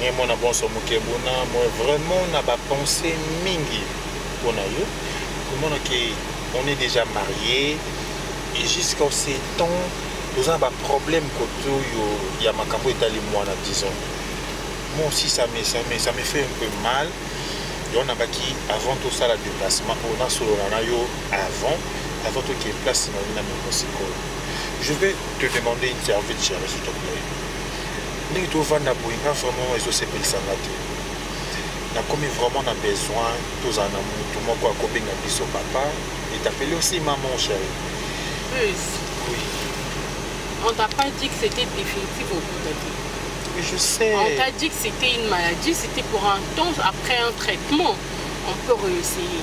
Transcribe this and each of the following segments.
ngai mwana bonso mokebuna moi vraiment na bapenser mingi mpo na yo komona ke on est déjà marié et jusqu'à ce temps toza na baproblème kote oyo ya makambo etali mwana disons moi aussi ça me, ça me, ça me fait un peu mal yo nabaki avant tosala déplacement oyo nasolola na yo avant avant tokende place na yo na mokosikoyo je vais te demander une service ya résultat ndenge tovanda boye nga vraiment ezosepelisa nga te nakomi vraiment na besoin tozala na motu moko akobenga biso papa etapeli osi maman chéri On t'a pas dit que c'était définitif au bout de Je sais. On t'a dit que c'était une maladie, c'était pour un temps, après un traitement, on peut réessayer.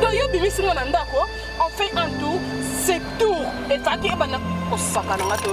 donc yo bimisi nga na ndako on fait un tour c'est tour efaki ebanda kosaka na nga to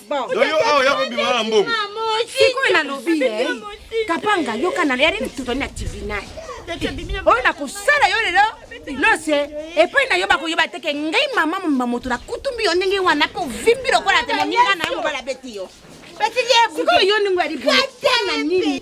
Yoyo awa ya kobima na mbongo. Sikoyo nalobi ye. Kapanga yoka na yari tutoni na tribunal. Oyo nakosala yo lelo lose epai na yo bakoyeba te ke ngai mama momba moto nakutumbi yo ndenge wana mpe ovimbi lokola te moninga na yo mobala beti yo sikoyo yo ndenge yali boye nini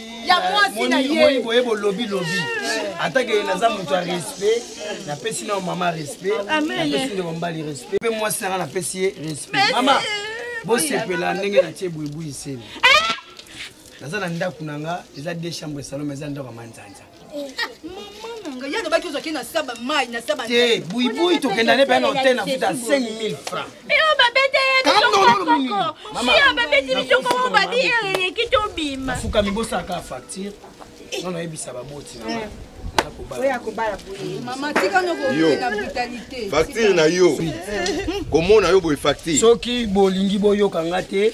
ya mwasi na ye boye bolobi lobi atake naza moto ya respect napesi nao mama respect napesi ndeko mbali respect mpe mwasi nanga napesi ye respect mama bosepela ndenge natie buibui nsemi eh! naza na ndako na nga eza de chambre saloma eza ndako ya manzanza ye alobaki ozwaki na saba mai na saba te buibui tokenda ne mpe na hotel na futa 5000 franc eyo babete yebisokokosia babeti bisokoko babi eleki tobima fukami bosalaka facture eh. nono yebisa baboti na eh. facture na yo komona yo boye facture soki bolingi boyoka nga te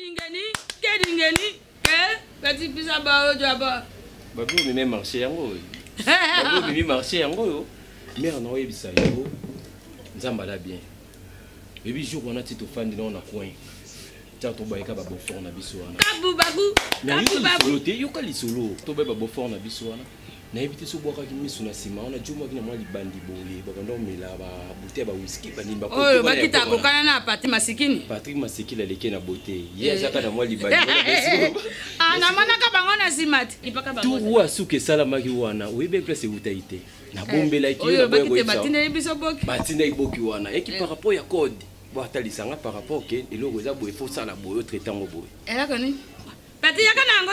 Kedingeni, kedingeni, eh, kati pisa ba ojo aba. Babu mi me marché yango. Babu mi marché yango yo. Mère na oyebisa yo. Nzamba la bien. Ebi jour wana ti tofandi na coin. Tia tobayika ba beaufort na biso wana. Babu babu. Babu babu. Yoka lisolo, tobayika ba beaufort na biso wana. nayebi te so obwakaki miso na nsima wana jomaki na mwa libandi boye babanda komela babute ya bawiski bandimi oyo bakita akokana na patri masikini patrik masikini aleki na bote ye eh. azaka na mwa libandi ah, namonaka bango na nsima te tu asuka esalamaki wana oyebi place ewutaki te nabombelaki eh, batindaki biso boki batindaki boki wana eki eh. par rapport ya code bo atalisa nga par rapport ke eloko eza boye fosala boye otraite yango boye eloko nini pati yaka na yango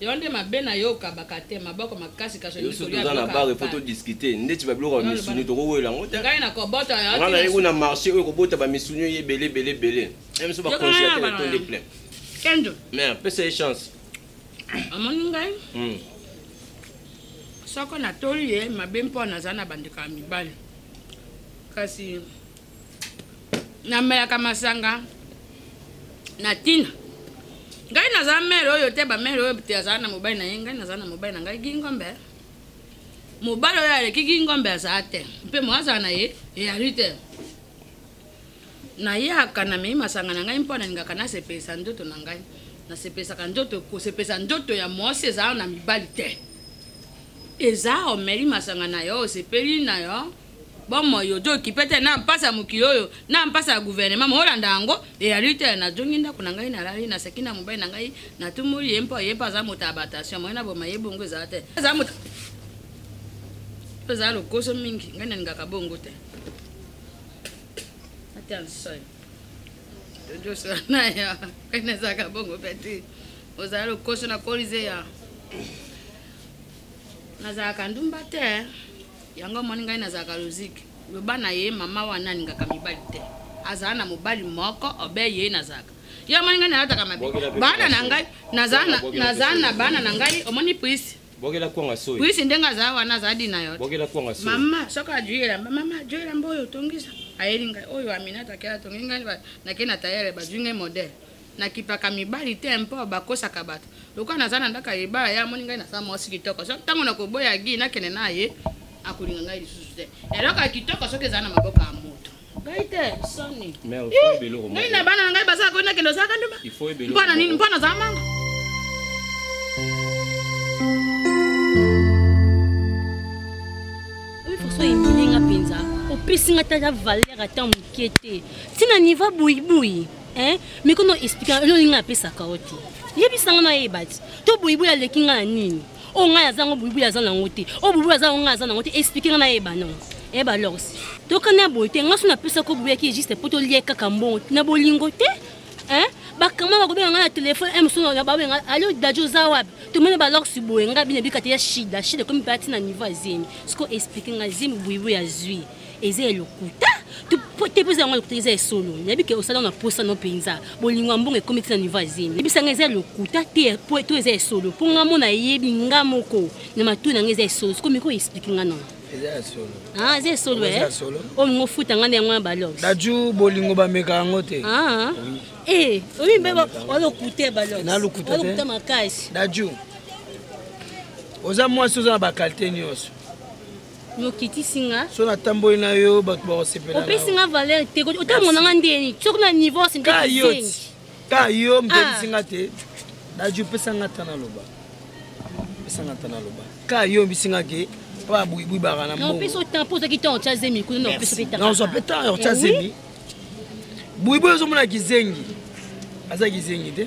Yo nde mabe na yo okabaka te maboko makasi kasi yo soki oza na bar faut to discuter ndeti ba biloko ya misuni toko wela ngo te ngai na kobota ya ngana yeko na marché oyo kobota ba misuni ye belé belé belé même so ba congélateur to de plein kendo mais pesa ye chance amoni ngai hmm. soko natoli ye mabe mpo naza na bandeko ya mibali kasi namelaka masanga na tina ngai naza mere oyo te bamere oyo te azala na mobali na ye ngai naza na mobali na ngai gingombe mobali oyo aleki gingombe azala te mpe moazala na ye eyali te nayaka namei masanga na ngai mpo nalingaka nasepelisa ndoto na ngai nasepesaka ndoto kosepesa ndoto ya mwasi ezala na mibali te eza omeli masanga na yo osepeli na yo bomoi ozo okipe te na mpasi ya mokili oyo na mpasi ya guvernema molanda yango eyali te nazongi ndako na ngai nalali naseki na mobali na ngai natumoli ye mpo ye mpe aza moto ya batation moye na boma ye bongo ezala te aza moto ozala lokoso mingi ngai nalingaka bongo te atensoi tojosola na ya ngai nazalaka bongo mpe te ozala lokoso na kolise ya nazalaka ndumba te yango omoni ngai nazalaka logique loba na ye mama wana alingaka mibali te azala na mobali moko obe ye nazalaka yo omoni ngai nalataka mabe bana na ngai nazala na bana na ngai omoni prise bokela kwanga soyi prise ndenge azala wana azala di na yo bokela kwanga soyi mama soki ajui elamba mama ajui elamba oyo otongisa ayeli ngai oyo aminata ke atongi ngai nake na tayele bazwi ngai modele nakipaka mibali te mpo bakosaka bato lokola naza na ndako ya libala ye amoni ngai naza mwasi kitoko so ntango nakoboya gi nakende na ye akolinga ngai lisusu te eloko ya kitoko soki eza na maboko ya moto ngai te soni ngai na bana na ngai bazala koi nakende ozalaka nduma mpo na nini mpo nazala manga faso eminenga mpenza opesi ngai tata valeur ata moke te ntina niva boyiboi eh miko no expliquer elo linga pesa ka oti yebisa nga na yeba ti to boyibo ya leki nga na nini o oh, nga ya zango boyibo ya zana ngote o oh, boyibo ya zango nga ya zana ngote expliquer nga na yeba non eh ba lors to kana boye te nga so na pesa ko boya ki juste poto lie kaka mbongo na bolingo te eh bakama bakobenga nga na telefone e mosusu babenga alo dajo oza wapi tomoni balorsi boye nga bino ebikata ya shida shida ekomi mpe atina niveau ya zemi siko explike nga zemi boyibo ya zwi eza ya lokuta te mposa yango lokuta eza ya solo nayebi ke osala na mposa no mpenza bolingo ya mbongo ekomi ti na niveau ya zemi yebisa ngai eza ya lokuta te to eza ya solo mpo ngai mona yebi ngai moko na matoi na ngai eza ya solo sikoyo miko explike ngai nao eza ya solo ah, eza ya solo eh? oyo mingo ofuta ngai na yango na balox daju bolingo bameka yango te ah, ah. eh, oyi mbe olokuta ya baloxolokuta makasi daju oza mwasi oza na bakalite nyonso nokitisi nga so natamboli na yo bato bakosepela opesi nga valeur te otamona nga ndeni soki na niveau sindekisenge ka yo motebisi ah. nga te daji opesa nga ata naloba opesa nga ata naloba ka yo mbisi nga ke mpo abuibui baka na mbongoopesa otan mpo ozaki tan otya zemi kuna naopesa mpe tanazwa mpe tan otya eh zemi buibui ozomona kizengi aza kizengi te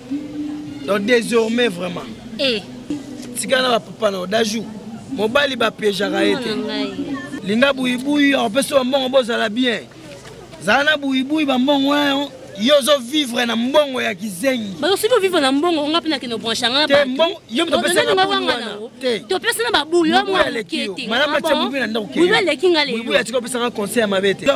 donc désormais vraiment eh. tika na bapapa nao dajou mobali bapiejaka ye te linga buyibuyi akopesa yo mbongo bozala bien zala na buyibuyi bambongo wana yo ozovivre na mbongo ya kizengi soki ovivre na mbongo onga mpe nakende obranche yanga topesa na babulu aleki nga leyoatika opesaka conseil ya mabe te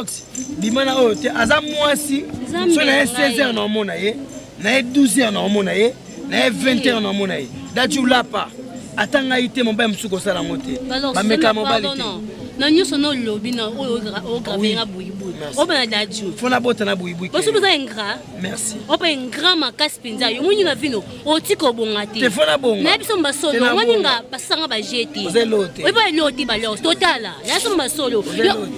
bima na oyo te aza mwasi so na ye 16 heure na omona ye na ye 12 heures na omona ye na ye 20 heures na omona ye dati olapa ata ngai te mobali mosusu kosala yango te bameka mobali te na nyonso na olobi na oyo ograve nga boyiboi oba na daju fona bota na boyiboi boso boza ingrat merci opa ingrat makasi mpenza yo moni na vino otika obonga te fona bonga na biso mbasolo omoni nga basanga baje te oyebi eloo te baleo totala na biso mbasolo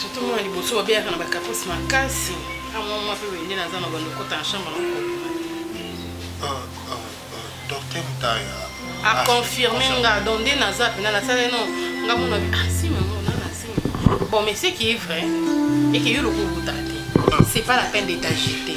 surtout mwana liboso babeyaka na bakaprisi makasi amwa mwa mpe wende naza na bando kota na chambre nakobima ah, ah, ah, docteur mutaya aconfirme nga don nde naza mpena nasala no nga mona asi mango na nasimi bon mais ce qui est vrai eke yo lokobuta te c'est pas la peine de t'agiter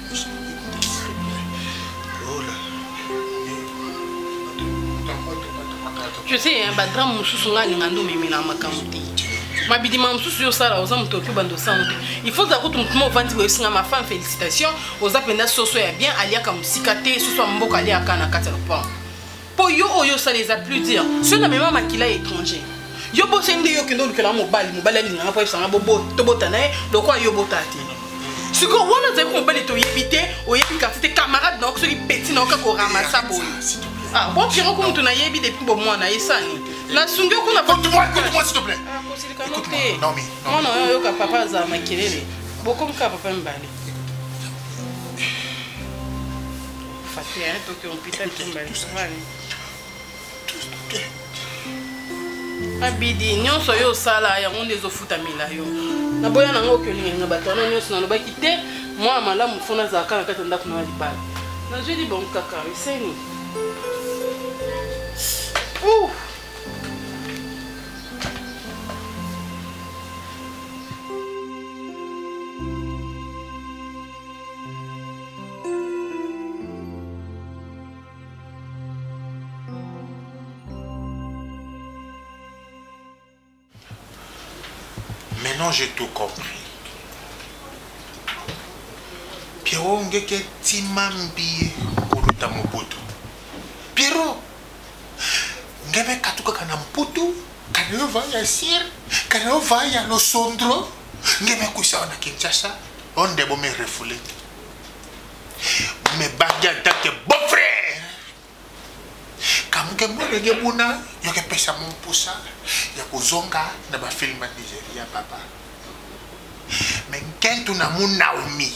tu sais hein, badrame mosusu ngai alinga nde omemelaka makambo te mabidima mosusu yo osala oza moto oki obanda osango te il faut ozala kutu motu mo ovandi boye osinga ma femme félicitation oza mpenza soso ya bien aliaka mosika te soso ya mboka aliaka na kati ya lopango mpo yo oyo osala eza plus dire soki namema makila ya étranger yo bosi nde yo okende olukela mobali mobali alinganga mpo ayebisanga tobota na ye lokola yo obota te sikoyo wana ozali mobali toyebi te oyebi kasi te camarade na yo soki peti na yo kaka oramasa boye ah, bon piro ko moto nayebi depuis bomwana esani nasungi yo kuna mwana oyo oyoka papa azala makelele bokomika papa mibale Fati, hein, toi qui rompis ça, tu m'as abidi nyonso yo osala yango nde ezofutamela yo naboya nango oki olingelinga bato wana nyonso nalobaki te mwana malamu fo nazalaka na kati ya ndako na libala nazwi libongo kaka eseni Maintenant, j'ai tout compris. Pierrot ngeke timambi koluta mobutu. Pierrot ngebe katukaka na mputu kana yo va ya sir kana yo va ya losondro nge mekwisa wana kinshasa onde bo me refoule me bagi atake bon frère kamuke mwana nge buna yoke pesa mo mposa ya kozonga na bafilme ya nigeria papa me nkentu na mo naomi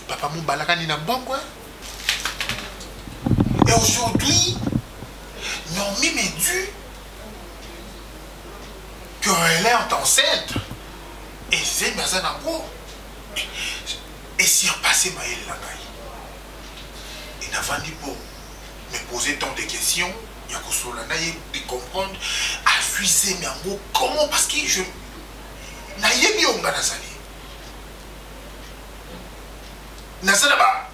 papa mobalakani na mbongo eh? et aujourd'hui naomi me due que elle est enceinte et zemi aza na go et surpasser mayele na ngai et navandi po me poser tant de questions ya kosolola na ye de comprendre azwi zemi yango comment parce que je nayebi oyo ngai nazali naza na ba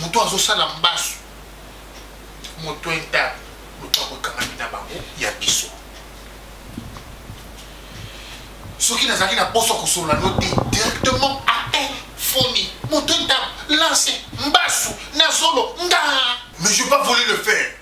moto azosala mbasu moto enta moto akokamami na bango ya biso soki nazalaki na poso kosolola no te directement apel fomi moto enta lance mbasu na zolo nga mais je pas voulu le faire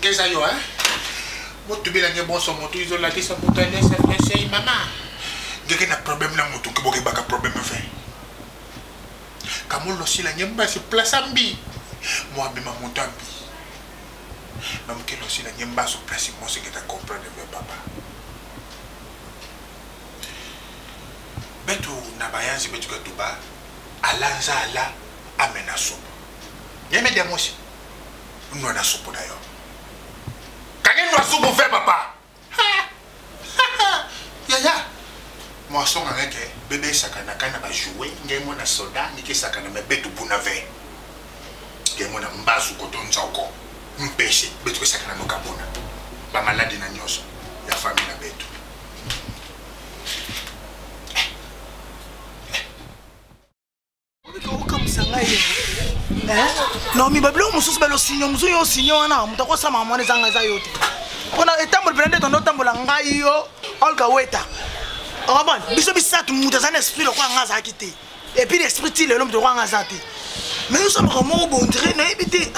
keza yo hein mutu bilange bonso mutu izo lakisa mutu alesa blessei mama ngeke na problème na mutu kiboke baka problème fe kamulo sila nge mbasi place ambi mwa bima mutu ambi na mukelo sila nge mbaso place mo se ngeta comprendre me papa betu na bayanzi betu ka tuba alanza ala amena sopa yeme diamosi nwa na supu na yo kangi nwa supu fe papa yaya mwaso nga ngeke bebe esakana ka na bajoue ngai mwana soda nike esakana me betu buna ve ngai mwana mbasu koto nzoko mpese betu esakana nokabuna bamaladi na nyonso ya fami na betu nomi babiloko mosusu belo sinyo mosusu yo sinyo wana moto akosama mwana ezanga eza yo te mpona etamboli mpena nde tondo otambola ngai yo olga weta okomona biso misato moto aza na esprit lokola ngai azalaki te epuis na esprit ti lelo moto lokola ngai aza te mais osalaka moko bondire nayebi te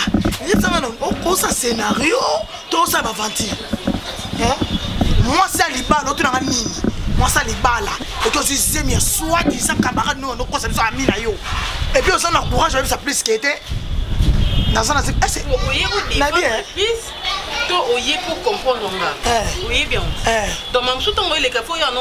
ezanga okosa scénario toza baventure mwasi ya libala otunanga nini mwasi ya libala oki ozwi zemi ya soi disant camarade noyo nokosa biso ami na yo epuis oza na courage oyebisa plus ke te naza na to oye pour comprendre nga eh. oyebi yango eh. donc mamosusu ntango eleka fo yo ano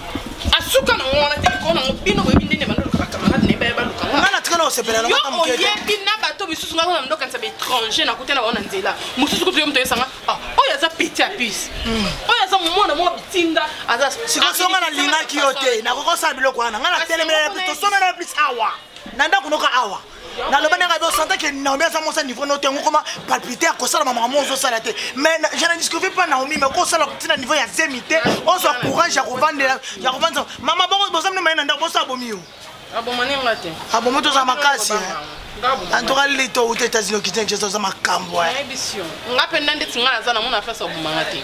asuka na ngo wana te likolo na ngo bino boyebi ndenge bandoluka bacamarade na ye baye baluka ngo nga natikala kosepela yo oyebi na bato misusu nga kuna ndokanisa baétranger nakuta na bango na nzela mosusu kutu yo moto oyesanga ah, oyo aza petit ya puce hmm. oyo aza mwana moko bitinda aza sikoso nga nalingaki yo te nakokosala biloko wana nga natelemela tosomela plus awa na ndako noka awa naloba ndenge abe osanta ke naomi aza mwasi ya niveau no te yango koma palpite ya kosala mama yango ozosala te mais je ne discuve pas naomi mais kosala ntina niveau ya zemi te ozwa courage ya kovandela ya kovandisa mama boko boza mino maye na ndako boso abomi yo abomani nga te abomi toza makasi antuka lito uta états-unis okitene jesu oza makambo nga mpenza ndeti nga naza na mona fasi abomanga te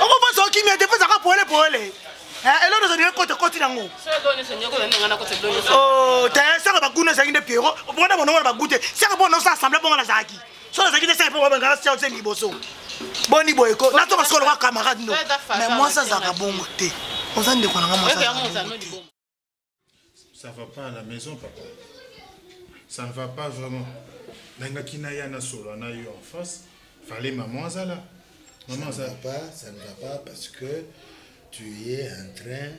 okoposa okimia te posa ka poele poele eh, eloko nyonso ndenge kota koti nango oh, te saka baguna ezalaki nde piero opona monongo na bagu te saka mpo naosa assemble bonga nazalaki so nazalaki te saka mpo babengaka siao se liboso boni boye ko nato basolo kaka camarade no mais mwasi azalaka bongo te oza ndeko nanga mwasi Ça va pas à la maison, papa. Ça ne va pas vraiment. Nangaki na ya na solo na yo en face. Fallait maman azala. Maman ça ne va pas, ça ne va pas parce que tu es en train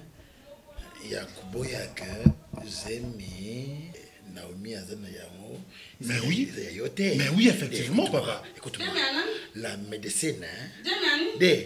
ya koboya que zemi Naomi aza na yango. Mais oui. Ya yo te. Mais oui effectivement papa. Écoute-moi. La médecine hein. De.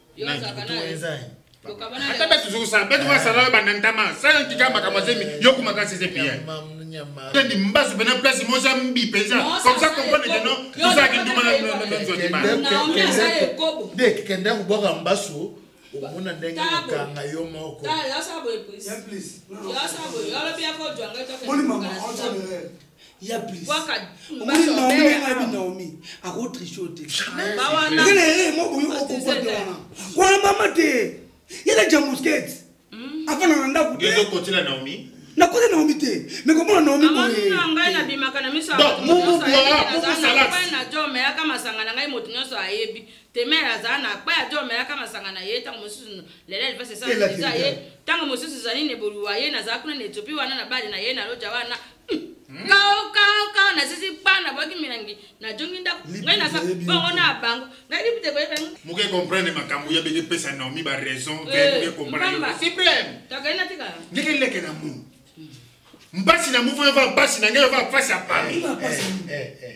ata batu zokusa batu basala yo banantama sala tika makambo azemi yo kuma kasi eze pia tendi mbasu pena place moza mbi mpenza comme ça comprendre que non tozalaki nduma na nzwa kibakende kobwaka mbasu omona ndenge okanga yo moko ya plis omoni naomi ndenge ayebi naomi akotriche yo te eza na ere moko yo okokoa te wana wana mama te yela jamuskete hmm. afana na ndako te nakota naomi te me komona naomi boyeomelaka masanga na ngai moto nyonso ayebi temere azala na kpa ya omelaka masanga na ye ntango mosusu lelo elivasesa ye ntango mosusu ezali neboluwa ye nazala kuna na etiopi wana na bale na ye na loja wana kaokao nazizi bana boki milangi najongi ndako ngai naza bongo na bango ngai lipi te koyeba moke comprendre makambo ya beke pesa naomi ba raison eh, comprendresupremetokai natika ndeke leke na mu mpasi na mufo yova mpasi na ngai yova mpasi ya pami eh, eh,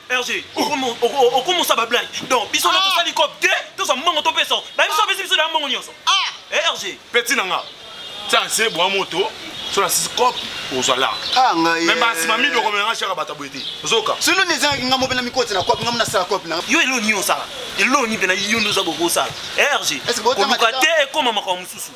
Hergé, okomosa ba blague. Donc biso na ah. tosali cop te, toza mbongo topesa. Ba biso besi biso na mbongo nyonso. Ah. Eh Hergé. Petit nanga. Tiens, c'est bon moto. Sur la six cop ozwa la. Ah ngai. Même basi mami do komela shaka bata boyete. Zoka. Sino ne zanga ngamo pena mikoti na cop ngamo na sala cop na. Yo elo ni osala. Elo ni pena yo ndoza boko sala. Hergé. Est-ce que bota mate? Ko te ekoma makao mususu.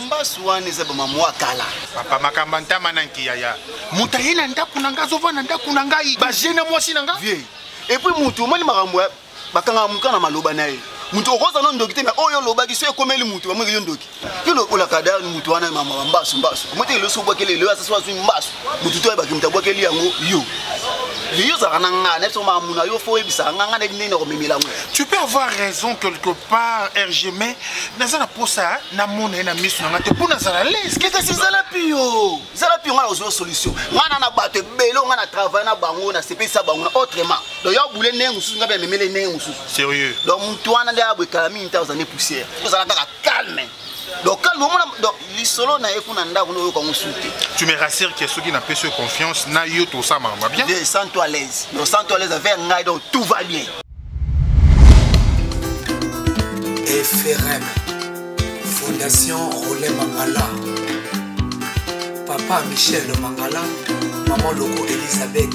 mbasu wana eza bamamwa kala papa makambo ya ntama na nkiyaya moto aye na ndako na ngai azova na ndako na ngai baje na mwasi na ngai vie epuis motu omoni makambo ya bakangaka moka na maloba na ye moto okoza no ndoki te me oyo olobaki so ekomeli moto bamweke yo ndoki yo lokola kadar moto wana mama mbasu mbasu omoteke loso obwakele lelo asasi azwi mbasu mutu to ayebaki moto abwakeli yango yo yo ozalaka na ngai na biso mamuna yo fo oyebisaka ngai ngai nayebi ndenge na komemela yango tu peux avoir raison quelque part rg mais naza na mposa namona ye na miso na ngai te mpo nazala leskekasi zala pio zala pio ngai na kozwa solution ngai na na bato ebele ngai na travaille na bango nasepelisa bango na autrement donc yo abule ndenge mosusu ngai mpe amemele ndenge mosusu sérieux donc motu wana nde aboekala mingi ntango ozali poussière ozala kaka calme donc calme omona donc lisolo na ye kuna ndako no oyoka mosusu te tu me rassure que soki napesi yo confiance na yo tosala makambo bien je sens toi à l'aise donc sens toi à l'aise avec ngai donc tout va bien frm fondation role mangala papa michel mangala mama loko elizabeth